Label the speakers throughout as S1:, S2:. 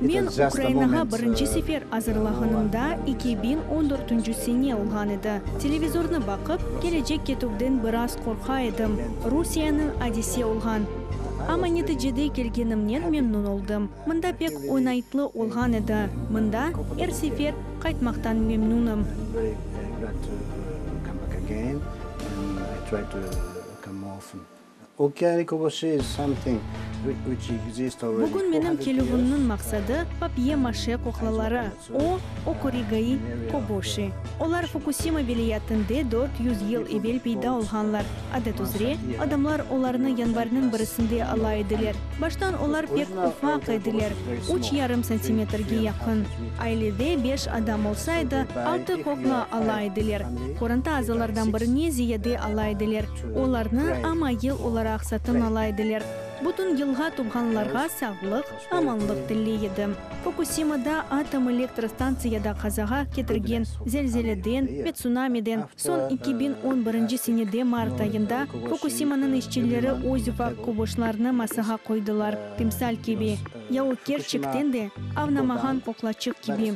S1: Men Ukrainağa birinci sefer
S2: azırlağanımda eki biñ on dörtünci sene olğan edi. Televizornı baqıp, kelecek ketüvden biraz qorqa edim, Rusiyeniñ adise olğan. Amma neticede kelgenimnen memnun oldım. Mında pek oñaytlı olğan edi. Mında er sefer qaytmaqtan memnunım.
S1: Bugün menim kelüvimniñ
S2: maqsadı,
S1: papye-maşe
S2: kuklaları, o, okorigai koboşi. Olar Fukusima vilâyetinde dört yüz yıl evel peyda olğanlar. Adet üzre, adamlar olarnı yanvarnıñ birisinde ala ediler. Baştan olar pek ufaq ediler, üç yarım santimetrge yaqın. Ailede beş adam olsa edi, altı kukla ala ediler. Qoranta azalardan birini ziyade ala ediler. Olarnı ama yıl olaraq satın ala ediler. Bütün yılğa tuvğanlarğa sağlıq, amanlıq tilley edim. Fukusimada atom elektr stantsiyada qazağa ketirgen zelzeleden ve tsunamiden soñ eki biñ on birinci senede mart ayında Fukusimanıñ işçileri öz ufaq koboşlarnı masağa qoydılar, timsal kibi, ya o kerçekten de avnamağan qoqlaçıq kibi.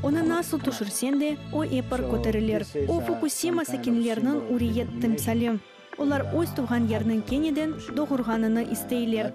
S2: Onı nasıl tüşürsen de, o epir köterilir. O, Fukusima sakinleriniñ üriyet timsali. Olar öz tuvğan yerniñ keneden doğurğanını isteyler.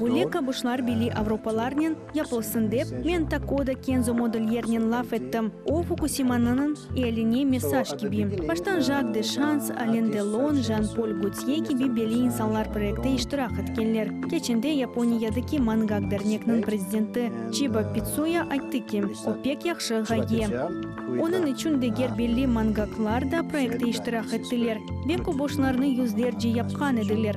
S1: Böyle qabuşlar
S2: bili
S1: avropalarnen
S2: yapılsın dep, men Takoda Kenzo Modelyernen laf ettim, o, Fukusimanınıñ ealine mesaj kibi. Baştan Jak de Şans, Alen Delon, Jan Pol Gotye kibi belli insanlar proektte iştirak etkenler. Keçende Yaponiyadaki Mangak dernekniñ prezidenti Çiba Pitsuya ayttı ki, o pek yahşı ğaye. Onıñ içün deger belli mangaklar da proektte iştirak ettiler ve qabuşlarnı yüzlerce yapqan ediler.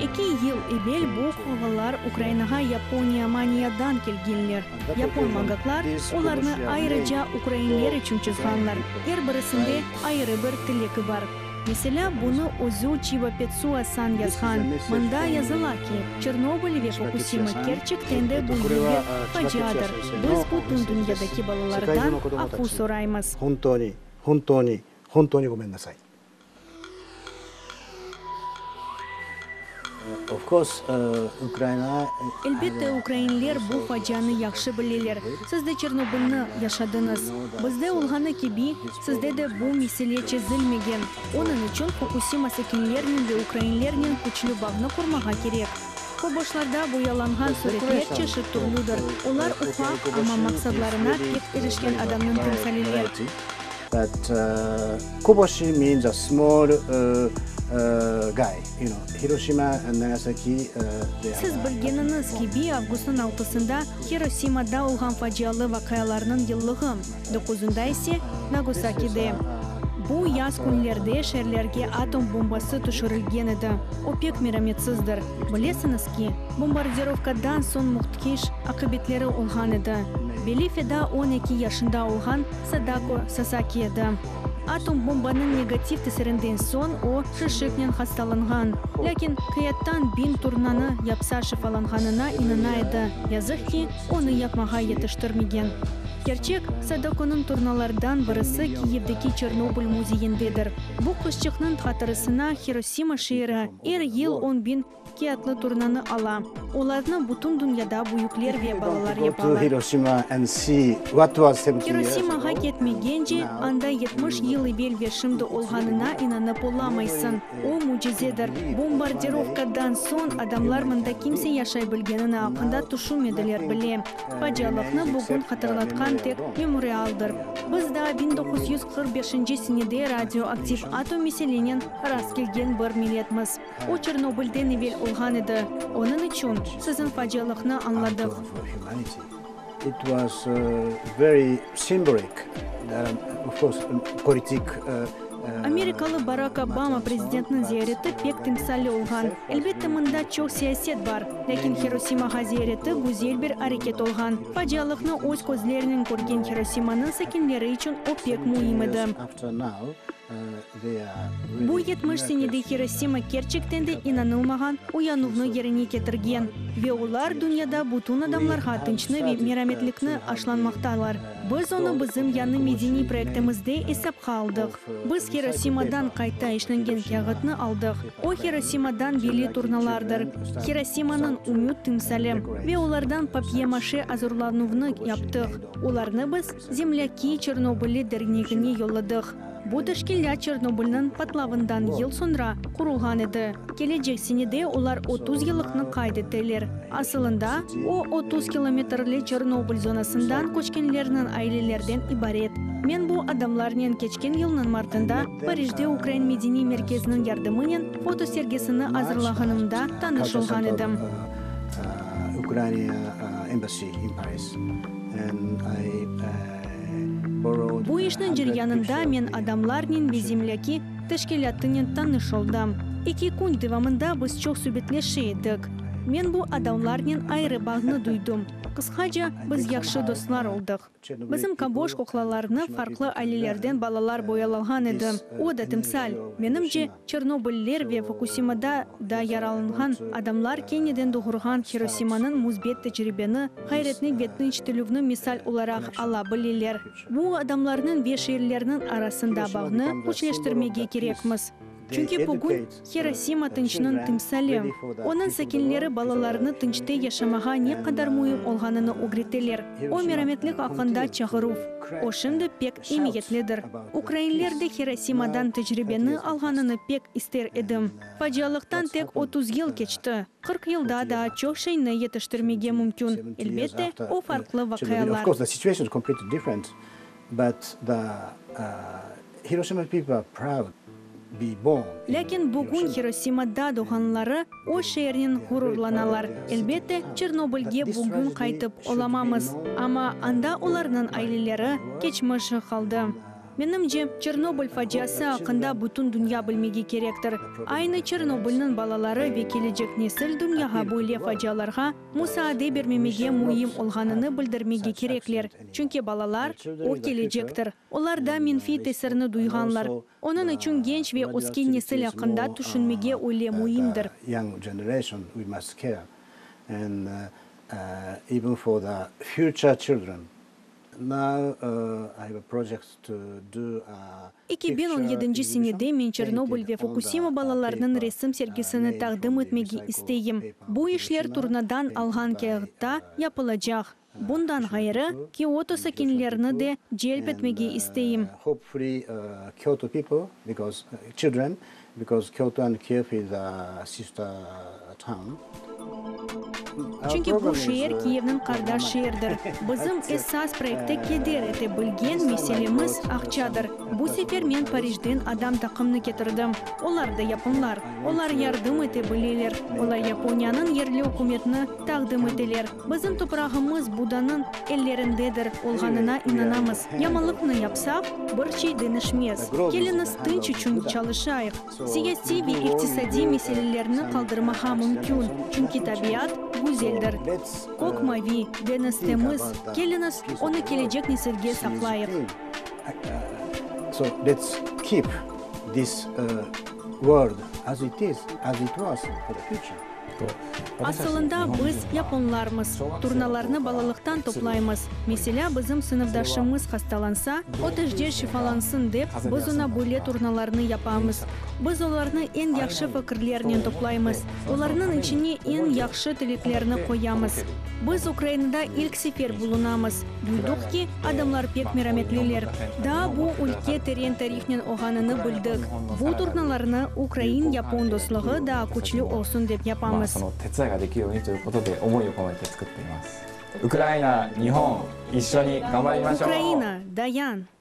S1: Eki yıl evel
S2: bu halvalar Ukrainağa Yaponiya, Maniyadan kelgenler. Yapon magatlar olarnı ayırıca ukrainler içün çızğanlar, er birisinde ayırı bir tileki bar. Meselâ, bunı özü Çiva Petsuas san yazğan, mında yazıla ki, Çernobıl ve Fukusima kerçekten de bu yılgi faciadır, biz bütün dünyadaki balalardan afu soraymız.
S1: Elbette,
S2: ukrainler bu facianı yahşı bileler. Siz de Çernobılnı yaşadıñız. Bizde olğanı kibi, sizde de bu mesele çezilmegen. Onıñ içün Fukusima sakinlerinen ve ukrainlernen küçlü bağnı qurmağa kerek. Köboşlarda boyalanğan suretler çeşit-türlüdir. Olar ufaq, amma maqsadlarına pek irişken adamnıñ timsaliler.
S1: Siz
S2: bilgeniñiz kibi, avgustnıñ altısında Hirosimada olğan facialı vaqialarnıñ yıllığı, doquzunda ise, Nagosakide. Bu yaz künlerde şeerlerge atom bombası tüşürilgen edi, o pek merametsizdir. Bilesiñiz ki, bombardirovkadan soñ mühtkiş aqibetleri olğan edi. Beli feda on eki yaşında olğan Sadako Sasaki edi. Atom bombanıñ negativ tesirinden soñ o şişiknen hastalanğan. Lâkin kıyattan biñ turnanı yapsa şifalanğanına inana edi, yazıq ki, onı yapmağa yetiştirmegen. Kerçek, Sadakonıñ turnalardan birisi Kiyevdeki Çernobıl müzeyindedir. Bu qızçıqnıñ hatırısına Hirosima şeeri, Er yıl on biñ kiatlı turnanı ala. Olarnı bütün dünyada büyükler ve balalar
S1: yapalar. Hirosimağa ketmegence, anda
S2: yetmiş yıl evel ve şimdi olğanına inanıp olamaysıñ. O, mücizedir. Bombardirovkadan soñ adamlar mında kimse yaşay bilgenini aqqında tüşünmediler bile. Facialıqnı bugün hatırlatqan tek memorialdır. Biz daa biñ doquz yüz qırq beşinci senede radioaktiv atom meselenen Rast kelgen bir milletmiz. O Çernobılden evel olğan edi. Onıñ içün siziñ facialıqnı
S1: añladıq.
S2: Amerikalı Barak Obama prezidentniñ ziyareti pek timsalli olğan. Elbette, mında çoq siyaset bar. Lâkin Hirosimağa ziyareti güzel bir areket olğan. Facialıqnı öz közlerinen körgen Hirosimanıñ sakinleri içün o pek müim edi. Bu yetmiş senede Hirosima kerçekten de inanılmağan uyanuvnı yerine ketirgen, ve olar dünyada bütün adamlarğa tınçnı ve merametlikni aşlanmaqtalar. Biz onı bizim yañı medeniy proektimizde esapqa aldıq. Biz Hirosimadan qayta işlengen kâğıtnı aldıq. O Hirosimadan belli turnalardır, Hirosimanıñ ümüt timsali, ve olardan papye-maşe azırlanuvnı yaptıq. Olarnı biz. Zemlâki Çernobıli Dernegine yolladıq. Bu teşkilât Çernobılnıñ patlavından yıl soñra qurulğan edi. Kelecek senede olar otuz yıllıqnı qayd eteler. Asılında, o, otuz kilometrli Çernobıl zonasından köçkenlerniñ ailelerden ibaret. Men bu adamlarnen keçken yılnıñ martında Parijde Ukrain Medeniy Merkeziniñ yardımınen fotosergisini azırlağanımda tanış olğan edim. Bu işniñ ceryanında men adamlarnen ve zemlâki teşkilâtınen tanış oldım. Eki kün devamında biz çoq subetleşe edik. Men bu adamlarnen ayrı bağnı duydım. Qısqaca, biz yahşı dostlar oldıq. Bizim kaboş kuklalarnı farqlı ailelerden balalar boyalağan edi. O da timsal. Menimce, Çernobıllılar ve Fukusimada da yaralanğan adamlar keniden doğurğan Hirosimanıñ müsbet tecribeni, ğayretni ve tınç tilüvni misal olaraq ala bileler. Bu adamlarnıñ ve şeerlerniñ arasında bağnı küçleştirmege kerekmiz. Çünki bugün Hirosima tınçnıñ timsali. Onıñ sakinleri balalarını tınçta yaşamağa ne qadar müim olğanını ögreteler. O merametlik aqqında çağıruv. O şimdi pek emiyetlidir. Ukrainler de Hirosimadan tecribeni alğanını pek ister edim. Facialıqtan tek otuz yıl keçti. Qırq yılda daa çoq şeyni yetiştirmege mümkün. Elbette, o farqlı vaqialar. Lâkin bugün Hirosimada doğğanları o şeernen ğururlanalar. Elbette, Çernobılge bugün qaytıp olamamız, amma anda olarnıñ aileleri, keçmişi qaldı. Menimce, Çernobıl faciası aqqında bütün dünya bilmege kerektir. Aynı Çernobılnıñ balaları ve kelecek nesil dünyağa böyle facialarğa musaade bermemege müim olğanını bildirmege kerekler, çünki balalar, o kelecektir. Olar da menfiy tesirni duyğanlar. Onıñ içün genç ve ösken nesil aqqında tüşünmege öyle müimdir.
S1: Eki biñ on
S2: yedinci senede men Çernobıl ve Fukusima balalarnıñ resim sergisini taqdim etmege isteyim. Bu işler turnadan alğan kâğıtta yapılacaq. Bundan ğayrı, Kioto sakinlerini de celp etmege isteyim. Çünki bu şeer Kiyevniñ qardaş şeerdir. Bizim esas proekte keder ete bilgen meselemiz aqçadır. Bu sefer men Parijden adam taqımnı ketirdim. Olar da yapınlar. Olar yardım ete bileler. Olar Yaponiyanıñ yerli ükümetini taqdim eteler. Bizim toprağımız Budanıñ ellerindedir olğanına inanamız. Yamanlıqnı yapsaq, bir şey deñişmez. Keliñiz tınç içün çalışayıq. Siyasiy ve iqtisadiy meselelerni qaldırmağa mümkün, çünki tabiat güzeldir. Kök mavi, deñiz temiz. Keliñiz, onı kelecek nesilge saqlayıq.
S1: Asılında
S2: biz, yaponlarmız, turnalarnı balalıqtan toplaymız. Meselâ, bizim sınıfdaşımız hastalansa, o tejde şifalansın dep, biz oña böyle turnalarnı yapamız. Biz olarnı eñ yahşı fikirlernen toplaymız, olarnıñ içine eñ yahşı tileklerni qoyamız. Biz Ukrainada ilk sefer bulunamız. Duyduq ki, adamlar pek merametliler. Daa bu ülke teren tarihnen oğanını bildik. Bu turnalarnı ukrain-yapon dostluğı daa küçlü olsun dep yapamız. Ukraina, dayan!